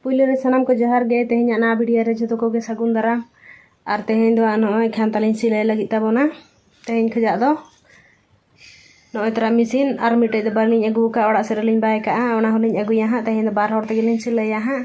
ᱯᱩᱭᱞᱩ ᱨᱮ ᱥᱟᱱᱟᱢ ᱠᱚ ᱡᱚᱦᱟᱨ ᱜᱮ ᱛᱮᱦᱮᱧᱟᱜ ᱱᱟᱣᱟ ᱵᱷᱤᱰᱤᱭᱳ ᱨᱮ ᱡᱷᱚᱛᱚ ᱠᱚᱜᱮ ᱥᱟᱹᱜᱩᱱ ᱫᱟᱨᱟᱢ ᱟᱨ ᱛᱮᱦᱮᱧ ᱫᱚ ᱱᱚᱜᱼᱚᱭ ᱠᱷᱟᱱ ᱛᱟᱞᱤᱧ ᱥᱤᱞᱟᱹᱭ ᱞᱟᱹᱜᱤᱫ ᱛᱟᱵᱚᱱᱟ ᱛᱮᱦᱮᱧ ᱠᱷᱚᱡᱟᱜ ᱫᱚ ᱱᱚᱜᱼᱚᱭ ᱛᱚᱨᱟ ᱢᱮᱥᱤᱱ ᱟᱨ ᱢᱤᱫᱴᱮᱡ ᱫᱚ ᱵᱟᱹᱞᱤᱧ ᱟᱹᱜᱩ ᱟᱠᱟᱫ ᱚᱲᱟᱜ ᱥᱮᱫ ᱨᱮᱞᱤᱧ ᱵᱟᱭ ᱠᱟᱜᱼᱟ ᱚᱱᱟ ᱦᱚᱸᱞᱤᱧ ᱟᱹᱜᱩᱭᱟ ᱦᱟᱸᱜ ᱛᱮᱦᱮᱧ ᱫᱚ ᱵᱟᱨ ᱦᱚᱲ ᱛᱮᱜᱮᱞᱤᱧ ᱥᱤᱞᱟᱹᱭᱟ ᱦᱟᱸᱜ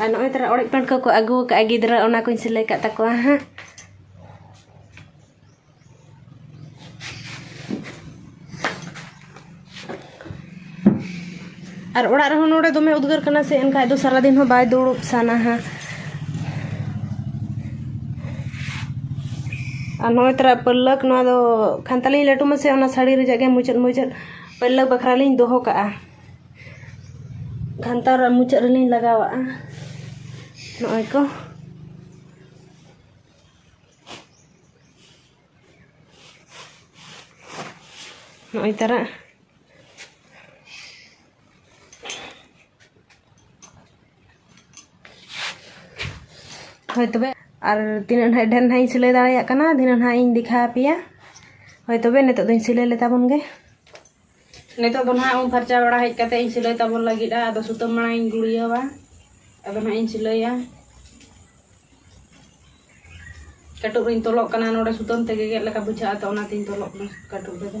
ᱟᱨ ᱱᱚᱜᱼᱚᱭ ᱛᱟᱨᱟ ᱚᱲᱮᱡ ᱯᱟᱹᱰ ᱠᱚᱠᱚ ᱟᱹᱜᱩ ᱟᱠᱟᱫᱼᱟ ᱜᱤᱫᱽᱨᱟᱹ ᱚᱱᱟ ᱠᱚᱧ ᱥᱤᱞᱟᱹᱭ ᱠᱟᱜ ᱛᱟᱠᱚᱣᱟ ᱦᱟᱸᱜ ᱟᱨ ᱚᱲᱟᱜ ᱨᱮᱦᱚᱸ ᱱᱚᱰᱮ ᱫᱚᱢᱮ ᱩᱫᱽᱜᱟᱹᱨ ᱠᱟᱱᱟ ᱥᱮ ᱮᱱᱠᱷᱟᱡ ᱫᱚ ᱥᱟᱨᱟ ᱫᱤᱱ ᱦᱚᱸ ᱵᱟᱭ ᱫᱩᱲᱩᱵ ᱥᱟᱱᱟ ᱦᱟᱸᱜ ᱟᱨ ᱱᱚᱜᱼᱚᱭ ᱛᱟᱨᱟ ᱯᱟᱹᱞᱞᱟᱹᱠ ᱱᱚᱣᱟ ᱫᱚ ᱠᱷᱟᱱᱛᱟᱞᱤᱧ ᱞᱟᱹᱴᱩ ᱢᱟᱥᱮ ᱚᱱᱟ ᱥᱟᱹᱲᱤ ᱨᱮᱭᱟᱜ ᱜᱮ ᱢᱩᱪᱟᱹᱫ ᱢᱩᱪᱟᱹᱫ ᱯᱟᱹᱞᱞᱟᱹᱠ ᱵᱟᱠᱷᱨᱟ ᱞᱤᱧ ᱫᱚᱦᱚ ᱠᱟᱜᱼᱟ ᱜᱷᱟᱱᱴᱟ ᱨᱮ ᱢᱩᱪᱟᱹᱫ ᱨᱮᱞᱤᱧ ᱞᱟᱜᱟᱣᱟᱜᱼᱟ ᱱᱚᱜᱼᱚᱭ ᱠᱚ ᱱᱚᱜᱼᱚᱭ ᱛᱟᱨᱟ ᱦᱳᱭ ᱛᱚᱵᱮ ᱟᱨ ᱛᱤᱱᱟᱹᱜ ᱱᱟᱦᱟᱜ ᱰᱷᱮᱨ ᱱᱟᱦᱟᱜ ᱤᱧ ᱥᱤᱞᱟᱹᱭ ᱫᱟᱲᱮᱭᱟᱜ ᱠᱟᱱᱟ ᱫᱷᱤᱱᱟᱹᱱ ᱱᱟᱦᱟᱜ ᱤᱧ ᱫᱮᱠᱷᱟᱣ ᱟᱯᱮᱭᱟ ᱦᱳᱭ ᱛᱚᱵᱮ ᱱᱤᱛᱚᱜ ᱫᱚᱧ ᱥᱤᱞᱟᱹᱭ ᱞᱮᱛᱟ ᱵᱚᱱ ᱜᱮ ᱱᱤᱛᱚᱜ ᱫᱚ ᱱᱟᱦᱟᱜ ᱩᱢ ᱯᱷᱟᱨᱪᱟ ᱵᱟᱲᱟ ᱦᱮᱡ ᱠᱟᱛᱮ ᱤᱧ ᱥᱤᱞᱟᱹᱭ ᱛᱟᱵᱚᱱ ᱞᱟᱹᱜᱤᱫᱼᱟ ᱟᱫᱚ ᱥᱩᱛᱟᱹᱢ ᱢᱟᱲᱟᱝ ᱤᱧ ᱜᱩᱲᱤᱭᱟᱹᱣᱟ ᱟᱫᱚ ᱱᱟᱦᱟᱜ ᱤᱧ ᱥᱤᱞᱟᱹᱭᱟ ᱠᱟᱹᱴᱩᱵ ᱨᱤᱧ ᱛᱚᱞᱚᱜ ᱠᱟᱱᱟ ᱱᱚᱰᱮ ᱥᱩᱛᱟᱹᱢ ᱛᱮ ᱜᱮᱜᱮᱫ ᱞᱮᱠᱟ ᱵᱩᱡᱷᱟᱹᱜᱼᱟ ᱛᱚ ᱚᱱᱟᱛᱤᱧ ᱛᱚᱞᱚᱜ ᱠᱟᱱᱟ ᱠᱟᱹᱴᱩᱵ ᱨᱮᱫᱚ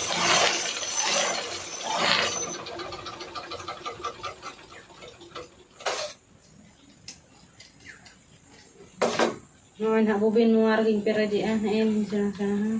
ᱱᱚᱜᱼᱚᱭ ᱱᱟᱦᱟᱜ ᱵᱩᱵᱤᱱ ᱱᱚᱣᱟ ᱨᱮᱜᱮᱧ ᱯᱮᱨᱮᱡᱮᱜᱼᱟ ᱦᱮᱸ ᱥᱮᱬᱟ ᱥᱮᱬᱟ ᱦᱚᱸ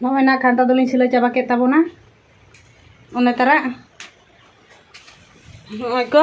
ᱱᱚᱜᱼᱚᱭ ᱱᱟ ᱠᱷᱟᱱᱛᱟ ᱫᱚᱞᱤᱧ ᱥᱤᱞᱟᱹᱭ ᱪᱟᱵᱟ ᱠᱮᱫ ᱛᱟᱵᱚᱱᱟ ᱚᱱᱮ ᱛᱟᱨᱟ ᱱᱚᱜᱼᱚᱭ ᱠᱚ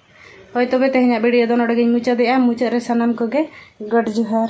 ᱦᱳᱭ ᱛᱚᱵᱮ ᱛᱮᱦᱮᱧᱟᱜ ᱵᱷᱤᱰᱤᱭᱳ ᱫᱚ ᱱᱚᱰᱮ ᱜᱤᱧ ᱢᱩᱪᱟᱹᱫᱮᱜᱼᱟ ᱢᱩᱪᱟᱹᱫ ᱨᱮ ᱥᱟᱱᱟᱢ ᱠᱚᱜᱮ ᱜᱚᱰ ᱡᱚᱦᱟᱨ